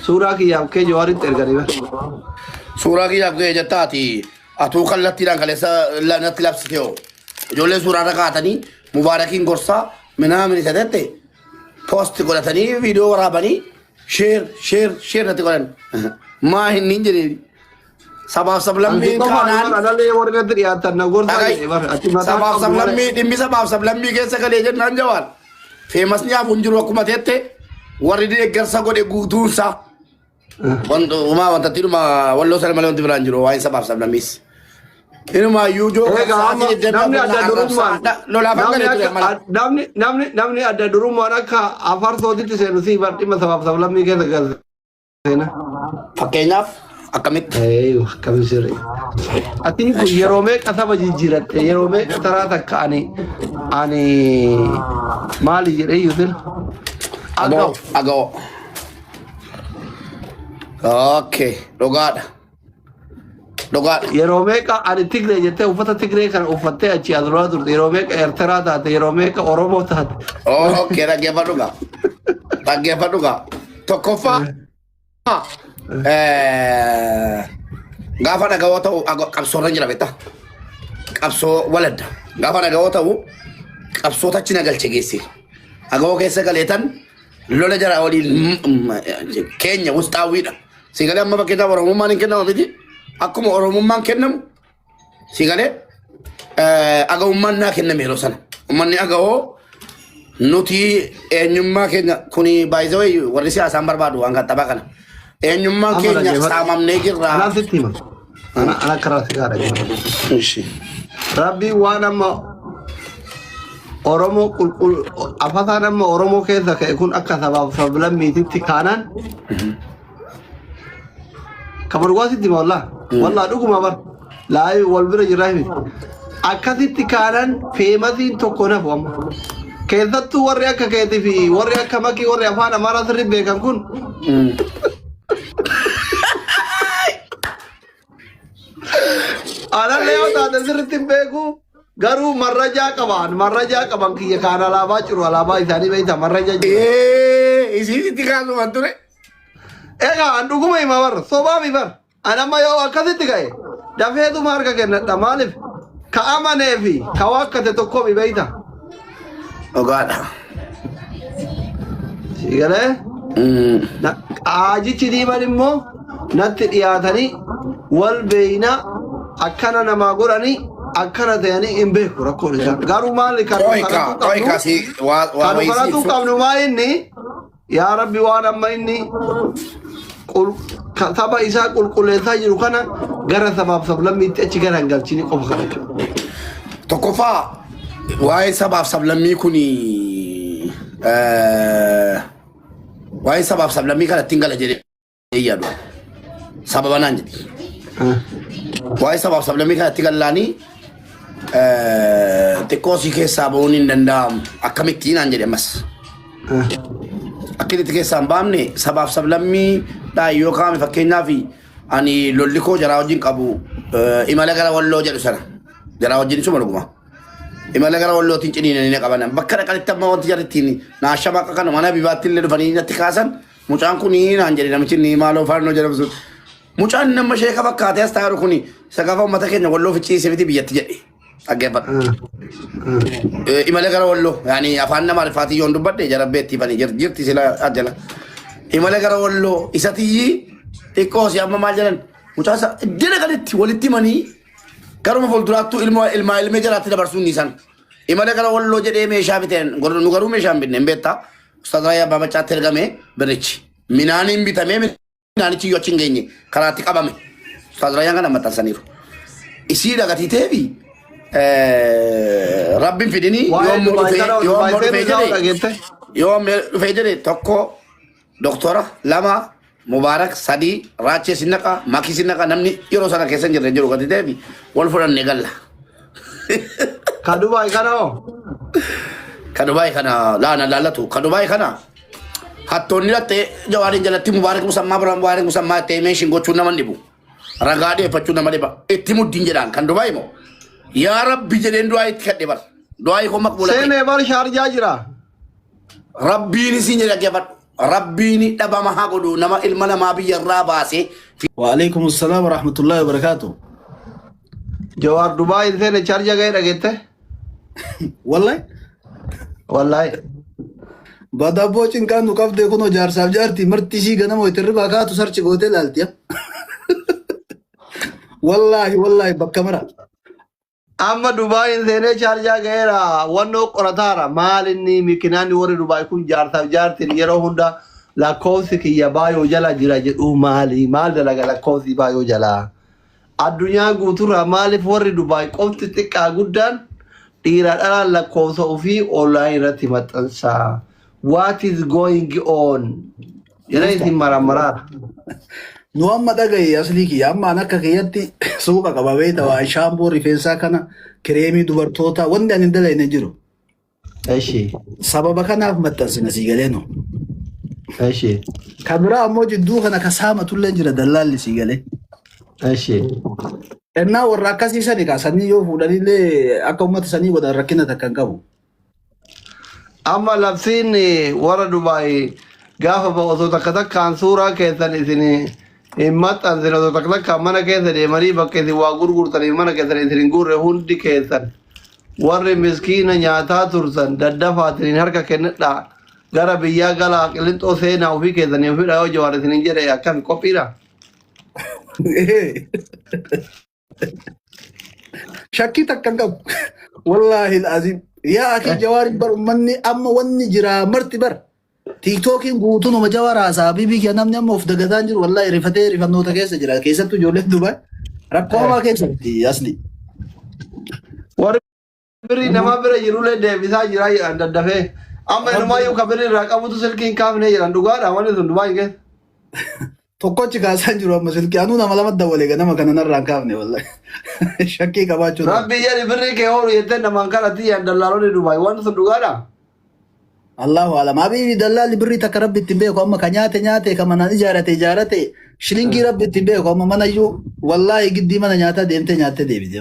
Suuraa kiyya abkee jawaaritti erganii bar. Suuraa kiyya abkee jettaa ati atuu kallattiidhaan kaleessa natti labsite hoo. Ijoolleen suuraa irra kaatanii mubaarakiin gorsaa minaamin isa jette poosti godhatanii viidiyoo waraabanii sheer sheer sheer natti godhan. Maa hin hin jedhee. Sabaaf sablammiin kaanaan. Alalee warri irratti dhiyaatan na gorsa. Sabaaf sablammii dhimmi sabaaf sablammii keessa galee jennaan jawaan. Feemas nyaafu hin jiru akkuma teette warri deeggarsa godhe guutuunsaa. Umaa wanta dhuma walloo sana malee wanti biraan jiru waa'ee sabaaf sablammiis. Inumaa iyyuu joo namni adda durummaan akka afarsootitti seenu sii bar dhimma sabaaf sablammii keessa galte. Seena. Fakkeenyaaf akkamitti? Ee, akkami sirri. Ati kun yeroo meeqa saba jijjiiratte yeroo meeqa taraa takka ani ani maali jedhee yuutin Agoo. Agoo. Agoo. Okay, dhugaadha. Dhugaadha. Yeroo meeqa ani Tigree jettee uffata Tigree kana uffattee achi as duraa turte. Yeroo meeqa Eertiraa taate, yeroo meeqa Oromoo taate. Oo, Okkee dhaggeeffadhu gaa. Dhaggeeffadhu gaa. Tokkoffaa eh, gaafa dhagawoo ta'u ago- qabsoorra jira beektaa? Qabsoo waladda. Gaafa dhagawoo ta'u qabsoota achi na galche geesse. Agawoo keessa galeetan lola jara waliin mm, mm, keenya wusxaawwiidha. Si galee amma fakkeenyaaf Oromummaan hin kennama miti. Akkuma Oromummaan kennamu si galee agawummaan naa kenname yeroo sana. Uummanni agawoo nuti eenyummaa keenya kuni baay'isawee warri siyaasaan barbaadu waan qaxxabaa kana. Eenyummaan Amma keenya dhaggeeffadhu. saamamnee jirra. Laal sitti hima. Ana ana karaa si gaadha jira. Ishi. Rabbi waan amma Oromoo qulqul afataan amma Oromoo keessa ka'e kun akka sabaaf sablammiititti kaanaan kamar waa sitti hima wallaa wallaa dhuguma bar laayii wal bira jirraa himi akkasitti kaanaan feemasiin tokko nafu amma keessattuu warri akka keetii fi warri akka makii warri afaan amaaraa sirri beekan kun Anallee yoo taate sirriitti hin beeku. Garuu marrajaa qaban marrajaa qaban kiyya kaan alaabaa jiru alaabaa isaanii beekta marraja jiru. Ee, isiisitti kaasuman ture. Egaa an dhuguma hima bar sobaa mi bar an amma yoo akkasitti ka'e dafeetuma harka kennadha maaliif ka amanee fi ka waakkate tokko mi beekta. Dhugaadha. Sii galee? Na- Qaajichi diiman immoo natti dhiyaatanii wal beeyna akkana namaa godhanii akkana ta'anii hin beeku rakkoon isaa. Garuu maali kan nu Qoyka, kadhachuu qoyka qabnu? si waa waa Kan nu wayisi kadhachuu ibsu. qabnu maa inni? Yaa Rabbi waan amma inni qul- ka- saba isaa qulqulleessaa jiru kana gara sabaaf sablammiitti achi gara hin galchini qofa kana jechuudha. Tokkoffaa waa'ee sabaaf sablammii kun waa'ee sabaaf sablammii kana ittiin gala jedhee hin yaadu. Sababa naan jedhi. Waa'ee sabaaf sablammii kanatti gallaanii xiqqoo si keessaa ba'uun hin danda'amu. Akkamitti naan jedhe ammas. Akkamitti keessaa hin baamne sabaaf sablammii dhaa yoo kaa'ame fakkeenyaaf ani lolli koo jaraa wajjin qabu eh, imala gara walloo jedhu sana jaraa wajjin isuma dhuguma. Imala gara wallootiin ciniinanii na qabanan bakka dhaqanitti amma wanti jarittiin naashama akka kana mana bibaatti illee dhufanii natti kaasan Mucaan kun naan jedhe namichi ni maaloo faannoo jedhamu sun. Mucaan nama sheeka fakkaatee as taa'u kun isa gaafa uummata keenya walloo ficciisee miti biyyatti jedhe. Dhaggeeffadha. Imala gara walloo yaani afaan nama rifaatii yoon dubbadhe jarabbee itti fanii jirti jirti sila ajjala. Imala gara walloo isa tiyyi xiqqoo si amma maal jedhan mucaa isa iddina gaditti walitti manii garuma fuulduraattuu ilma ilmaa ilmee jalaatti dabarsuun ni san. Imala gara walloo jedhee meeshaa biteen nu garuu meeshaa hin binne hin beektaa. Ustaaz Raayyaa Abbaa Maccaatti ergame birrichi. Minaaniin bitamee minaanichi iyyuu achi hin geenye karaatti qabame. Ustaaz Raayyaan kana maxxansaniiru. Isii dhagatiitee fi rabbiin fidinii Waa'ee yoommoo Dubaay dhufee kana Dubaay yoommoo dhufee seenuu isaa jedhee dhageette. yoommoo dhufee jedhee tokko doktora lama Mubarak sadii raachee sin naqa makii sin naqa namni yeroo sana keessa hin jirre jiru gati ta'eef wal fudhanne galla. Ka Dubaay kana hoo? Ka Dubaay kana laana laallatu ka Dubaay kana hattoonni latte jawaariin jalatti mubaarik musammaa bira mubaarik musammaa ta'e meeshin gochuun nama hin dhibu. Ragaa deeffachuu nama dhiba. Itti muddiin jedhaan kan Dubaay immoo yaa rabbi jedheen du'aa itti kadhe bar. Du'aa ikoo maqbuula. Seenee bar shaarjaa jira. Rabbiin isin dhaggeeffadhu. Rabbiin dhabama haa godhu nama ilma namaa biyya irraa baasee. Waaleykum salaam warahmatullahi wabarakaatu. Jawaar Dubaay hin seene chaarja ga'ee dhageette. Wallahi Wallaahi. badabboo cinqaan nu qabdee kunoo jaarsaaf jaartii marti ishii ganama itti irribaa kaatu sarchi gootee laaltiya. Wallahi wallahi bakka mara. Amma Dubaayiin seenee Shaarjaa ga'eera. Wannoo qorataara. Maal inni mikinaanni warri Dubaay kun jaarsaaf jaartiin yeroo hunda lakkoofsi kiyya baayoo jala jira jedhu maali? Maal dalaga lakkoofsi baayoo jala? Addunyaa guuturraa maaliif warri Dubaay qofti xiqqaa guddaan dhiiraa dhalaan lakkoofsa ofii online irratti maxxansa? What is going on? Jara isin maramaraara. Nu amma dhaga'i aslii kiyya amma an akka kiyyatti suuqa qaba beekta waan shaamboo rifeensaa kana kireemii dubartootaa wanti ani hin dalayne hin jiru. Eshi. Sababa kanaaf maxxansina sii galee nu. Eshi. Kan biraa ammoo jidduu kana ka saamatullee jira dallaalli sii galee. Eshi. Ennaa warra akkasii sani kaa sanii yoo fuudhanillee akka uummata sanii godhan rakkina takka hin qabu. Amma labsiin warra Dubaay gaafa ba'u osoo takka takkaan suuraa keessan isin hin maxxansin osoo takka takkaan mana keessa deemanii bakka isin waa gurgurtaniif mana keessan isin hin guurre hundi keessan warri miskiina nyaataa turtan daddafaatiniin harka kennadhaa gara biyyaa galaa qilixxoo seenaa ofii keessanii ofidha yoo jawaar isin hin jedhe akkan qophiidha. Shakkii takka hin qabu. Wallaahi aziim. Yaa akii jawaari bar ummanni amma wanni jiraa marti bar. Tiiktookiin guutuun uma jawaara haasaa bibii kee namni amma of dagataan jiru wallaahi rifatee rifannoota keessa jira keessattuu ijoolleen dubaa rakkoo hamaa keessa jirti asli. Warri birrii namaa bira jirullee deebisaa jiraa jedhan daddafee. Amma inumaayyuu ka birrii irraa qabutu silkii hin kaafne jedhan dhugaadha wanni sun Dubaay keessa. Tokkochi kaasaan jiru amma silkii anuu nama lama dawwale egaa nama kana narraa hin kaafne wallahi. Shakkii qabaachuu dha. Rabbii jedhi birrii kee hoolu jettee namaan kadhatti jedhan dallaalonni Dubaay wanni sun dhugaadha. Allahu alam. Habiibi dallaalli birrii takka rabbi ittiin beeku amma ka nyaate nyaate ka manaan ijaarate ijaarate shilingii rabbi ittiin beeku amma manayyuu wallahi giddii mana nyaataa deemtee nyaattee deebite.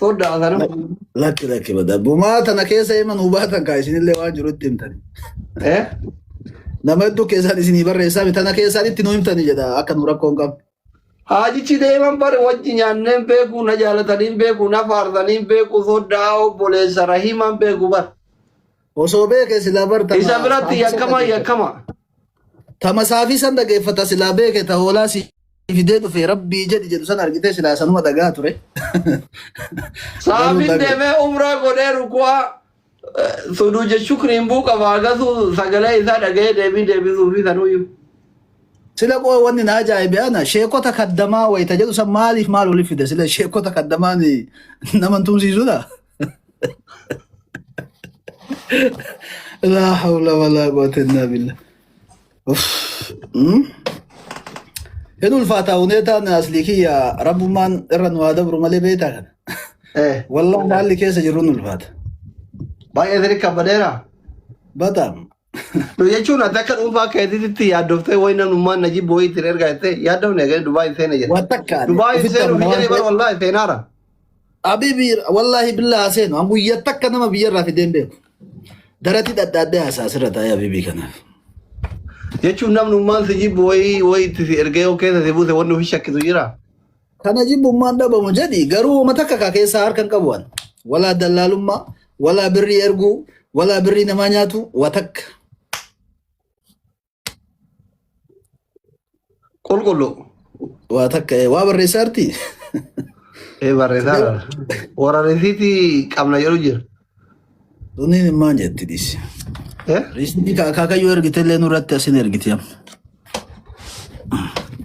Soodda asana. Lakki lakki bada. Bumaa tana keessa hima nuu baatan kaa isinillee waan jirutti himtani. Eh? Nama hedduu keessaan isinii barreessaa tana keessaan itti nuu himtani jedha akka nu rakkoon qabne. Haajichi deeman bare wajji nyaanneen beeku na jaalataniin beeku na faarsaniin beeku sooddaa obboleessa rahimaan beeku bar. Osoo beekee silaa bartana. Isa biratti yakkama yakkama. Tama saafii san dhageeffata silaa beeke ta hoolaa si fidee dhufe rabbii jedhi jedhu san argitee silaa sanuma dhagaa ture. Garuu Saafin dhaga. deemee umraa godhee ruku'aa suduuja shukriin buu qaba agasuu sagalee isaa dhaga'ee deebii deebisuu fi sanuyyuu. Sila qoo wanni na ajaa'ibe ana sheekota kaddamaa wayita jedhu san maaliif maal waliif fide sila sheekota kaddamaan nama hin tumsiisudha. Laa hawla walaa quwwata illaa billah. Uff, mm. Hin ulfaataa huneetaan aslii kiyya rabbummaan irra nu haa dabru malee beektaa kana. Eh, Wallah haalli keessa jirru hin ulfaata. baay'ee sirrii kabbadeera. Bataam. No jechuun ati akka dhuunfaa keetiitti yaaddoftee wayi namnummaan na jibbu wayii ittiin ergaa jettee yaaddofne eegale Dubaay hin seene jedhe. Waan takka ani Dubaay hin ofitti seenu amana hin waan jedhee bara ta'eef wallaahi seenaara. habiibi wallaahi billaa haseenu an guyyaa takka nama biyyarraa fideen beeku. Darati dhadhaadhee haasaa asirra taa'ee habiibii kanaaf. Jechuun namnummaan si jibbu wayii wayii itti si ergee yoo keessa si buuse wanni ofi shakkisu jira. Kana jibbummaan dhabamu jedhi garuu wama takka kaa keessaa harka hin qabu an. Walaa dallaalummaa, walaa birrii erguu, walaa birrii namaa nyaatu, waa takka. Qulqulluu. Waa takka eh, waa barreessaarti. Ee barreessaa warra risiitii qabna jedhu jira. Tuniin immaan jetti dhisi. Eh? Riisni akaakayyuu ergite illee nurratti asin ergite amma.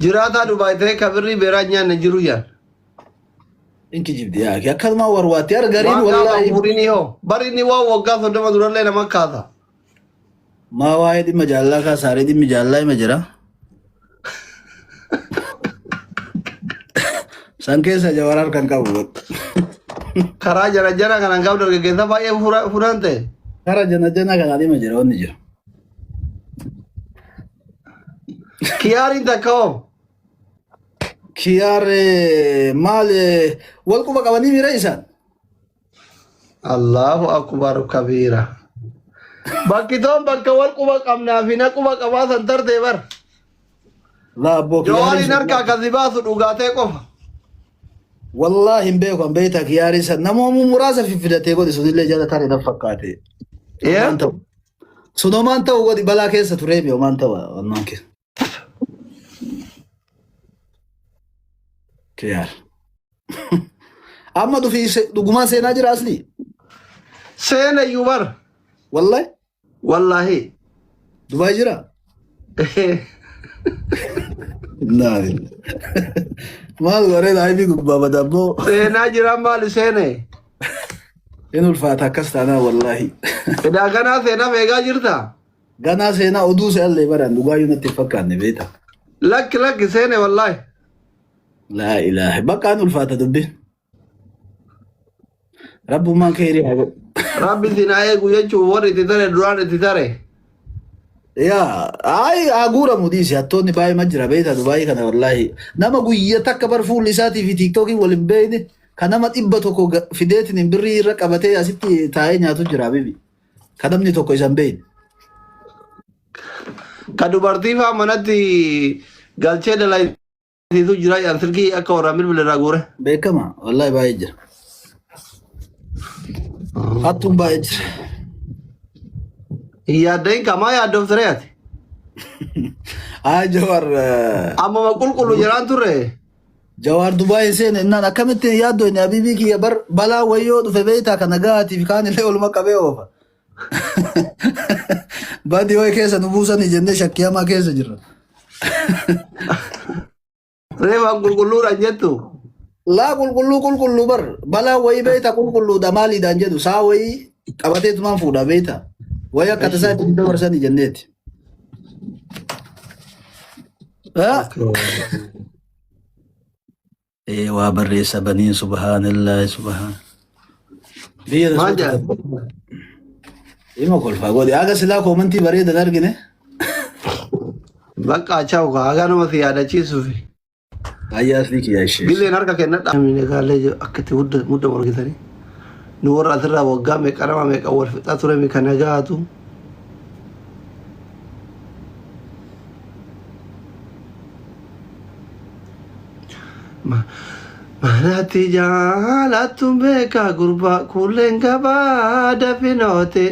Jiraataa Dubaay ta'ee ka birrii beeraa nyaanne jiru yaan. Inki jibdi yaa akkanumaa warwaatti argariin Waan gaafa wallaahi. umuriin yoo. Bari inni waan waggaa soddoma durallee nama kaasa. Maa waa'ee dhimma jaalalaa kaasaaree dhimmi jaalalaa hima jira. San keessa jawar harkan qabu. Karaa jara jara kanaan qabu dargaggeessa baay'ee fura- furaan ta'e. Kara jana jana kana dhimma jira wanni jira. Kiyaariin takka hoo? Kiyaar eh, maal eh, wal quba qabanii miira isaan? Allahu akbar kabiira. Bakki toon bakka wal quba qabnaa fi na quba qabaa san tartee bar. Laa abboo Jawaariin kiyaariin harkaa kan si baasu dhugaatee qofa. wallaahi hin beeku an beektaa kiyaariin san namoomuu muraasa fiffidatee godhi sunillee jala taate nan fakkaate. Waan ta'u. Sun homaan ta'u godhi balaa keessa turee mi homaan ta'u wannaan keessa. Kiyaar. Amma dhufii se- dhugumaan seenaa jira aslii. Seena iyyuu bar. Wallahi Wallaahi. Dubaay jira. Naa maal waree laayifii gubbaa badaa boo. Seenaa jiraan maali seene? In ulfaata akkas taanaa wallahi. Edaa kanaa seenaa eegaa jirta? Ganaa seenaa oduu se'allee baraan dhugaayyuu natti hin fakkaanne beektaa. Lakki lakki seene wallaahi. Laa ilaaha bakka an ulfaata dubbi. Rabbummaan keerii haa godhu. Rabbi isin haa eegu jechuun warri itti tare duraan itti tare. Yaa ayi haa guuramu dhiisi hattoonni baay'ee ma jira beektaa dubaayii kana wallaahi. Nama guyya takka bar fuulli isaatii fi tiiktookiin wal hin beekne kan nama dhibba tokko ga- fideetiin hin birrii irra qabatee asitti taa'ee nyaatu jira bibi. Ka namni tokko isa hin beekne. Ka dubartii faa manatti galchee dalaisiisu jira jedhan silkii akka warraa bilbila irraa guure. Beekama. Wallaahi baay'ee jira. Hattuun baay'ee jira. Hin yaaddahin kamaa yaaddoofte ree ati. Haa Jawaar. eh, Ammuma qulqullu jiraan turre. Jawaar Dubaay seene innaan akkamitti hin yaaddu inni Habiibii kiyya bar balaa wayyoo dhufe beeytaa kana gahaatiif kaan illee oluma qabee oofa. Badii wayi keessa nu buusanii jennee shakkii hamaa keessa jirra. Reefaan qulqulluudhaan jettu. Laa qulqulluu qulqulluu bar balaa wayii beeyta qulqulluudha maaliidhaan jedhu saa wayii qabatee tumaan fuudha beeyta. Wayii akka tasaa itti dabarsanii jenneeti. Ee waa barreessa baniin subhaanallah subhaan. Biyya Maal rasuulaa. jedhan? Ima kolfaa godhe. Haga silaa koomantii bareedan argine. Bakka achaawu kaa haga nama si yaadachiisuufi. Ayyaa asli kiyyaa ishee. Gilleen harka kennadha. Amiin egaale jo akkati hudda mudda morgitani. Nu warra asirraa waggaa meeqa nama meeqa wal fixaa ture mi kana gaatu. Ma- Manatti jaalattu beekaa gurbaa kuulleen gabaa dafinootee.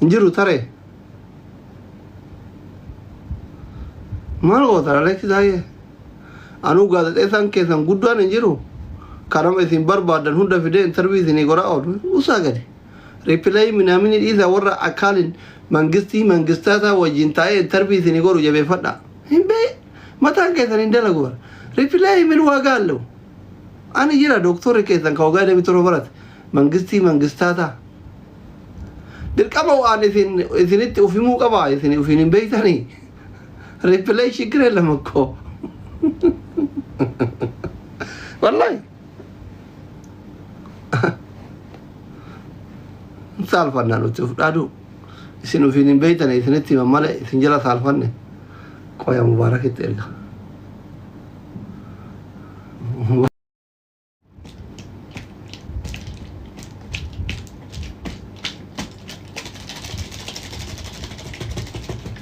hin jiru taree maal gootan aleeksi taayee anuu gaazexeessaan keessan guddaan hin jiru kanama isin barbaadan hunda fidee intarvii isinii godhaa oolu usaa gadi ripileeyi minaamini dhiisa warra akaalin mangistii mangistaataa wajjin taa'ee intarvii isinii godhu jabeeffadha hin bee mataan keessan hin dalagu bara ripileeyi min waagaa allahu ani jira doktorri keessan ka wagaa deemi torba barate Mangistii mangistaa ta. Dirqama waan isin isinitti of himuu qaba isin ofiin hin beektanii. Replay shikiree lama koo. Wallahi. Saalfannaa nuti of dhaaduu. Isin ofiin hin beektanii isinitti himan malee isin jala saalfanne. Qoya mubaarakitti erga.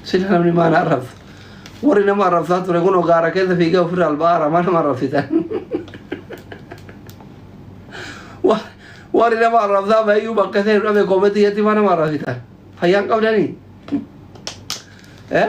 sila namni maan arrabsa warri nama arrabsaa ture kun ogaara keessa fiigaa ofirra albaara maa nama arrabsitan Wa- warri nama arrabsaa bayyuu bakka seenu dhabe koometti jetti maa nama arrabsitan fayyaan qabdanii eh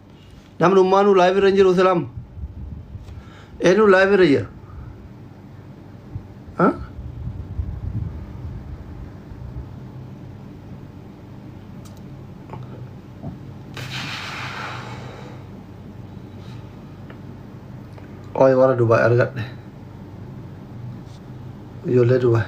Namni ummaanuu live irra hin jiru silaam. Eenyu live irra jira? Ha? Qoy warra Dubaay argadhe. Ijoollee Dubaay.